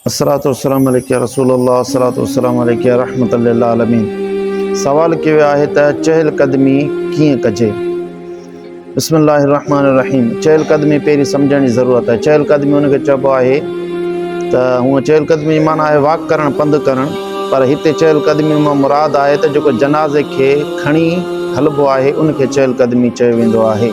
الصلوة والسلام عليك يا رسول الله الصلوة والسلام عليك يا رحمة للعالمين سوال ڪيو ويو آهي ته چهل قدمي ڪيئن ڪجي بسم الله الرحمن الرحيم چهل قدمي پهرين سمجهڻ جي ضرورت آهي چهل قدمي ان کي چئبو آهي ته هونء چهل قدمي جي معنيٰ آهي واڪ ڪرڻ پنڌ ڪرڻ پر هتي چهل قدمي مان مراد آهي ته جيڪو جنازي کي کڻي هلبو آهي ان کي چهل قدمي چيو ويندو آهي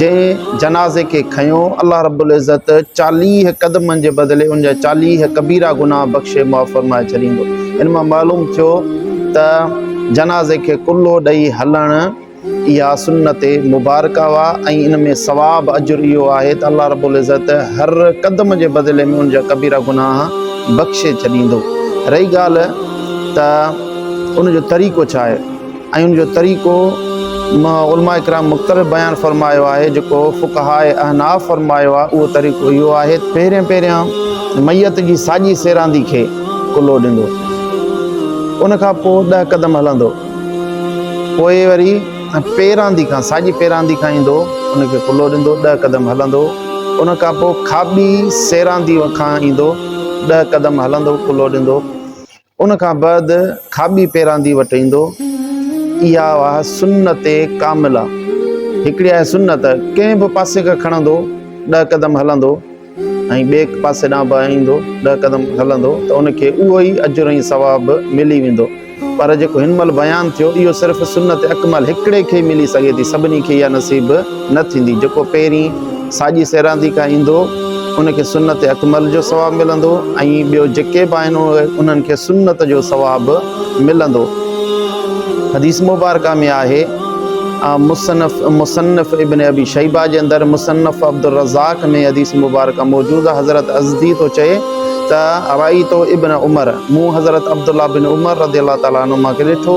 جنهن جنازي کي کنيو، الله رب العزت چاليهه قدمن جي بدلي ان جا چاليهه ڪبيره گناهه بخشي معاف فرمائي ڇڏيندو. ان مان معلوم ٿيو ته جنازي کي ڪلهو ڏئي هلڻ اها سنت مبارڪ اهي ۽ ان ۾ ثواب، اجر، اهو آهي ته الله رب العزت هر قدم جي بدلي ۾ ان جا ڪبيره گناهه بخشي ڇڏيندو. رهي ڳالهه ته ان جو طريقو ڇا آهي؟ ۽ ان جو طريقو علماء ڪرام مختلف بيان فرمايو آهي جيڪو فقهاء احناف فرمايو آهي اهو طريقو اهو آهي پهرين پهريان ميت جي ساڄي سيراندي کي ڪلهو ڏيندو ان کان پوء ڏهه قدم هلندو پوء وري پيراندي کان ساڄي پيراندي کان ايندو ان کي ڪلهو ڏيندو ڏهه قدم هلندو ان کان پوء کاٻي سيراندي کان ايندو ڏهه قدم هلندو ڪلهو ڏيندو ان کان بعد کاٻي پيراندي وٽ ايندو. اها آهي سنت ڪامله. هڪڙي آهي سنت، ڪنهن به پاسي کان کڻندو ڏهه قدم هلندو ۽ ٻئي پاسي ڏانهن به ايندو ڏهه قدم هلندو ته ان کي اهو ئي اجر ۽ ثواب ملي ويندو. پر جيڪو هن مهل بيان ٿيو اهو صرف سنت اڪمل هڪڙي کي ئي ملي سگهي ٿي سڀني کي اها نصيب نه ٿيندي، جيڪو پهرين ساڄي سيراندي کان ايندو ان کي سنت اڪمل جو ثواب ملندو ۽ ٻيو جيڪي به آهن انهن کي سنت جو ثواب ملندو حديث مبارڪه ۾ آهي مصنف مصنف ابن ابي شيبه جي اندر مصنف عبدالرزاق ۾ حديث مبارڪه موجود آهي حضرت ازدي ٿو چئي ته ارائيتو ابن عمر مون حضرت عبدالله بن عمر رضي الله تعالٰي عنهما کي ڏٺو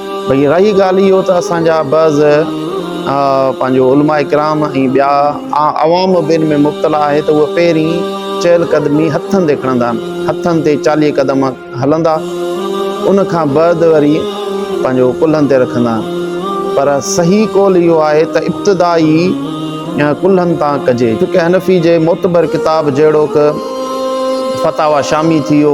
ڀئي رهي ڳالهه اهو ته اسان جا بعض پنهنجو علماء ڪرام ۽ ٻيا عوام به ان ۾ مبتلا آهي ته اهي پهرين چيل قدمي هٿن تي کڻندا آهن هٿن تي چاليهه قدم هلندا ان کان بعد وري پنهنجو ڪلهن تي رکندا آهن پر صحيح قول اهو آهي ته ابتدا ئي ڪلهن تان ڪجي چونڪه حنفي جي معتبر ڪتاب جهڙوڪ فتاويٰ شامي ٿي ويو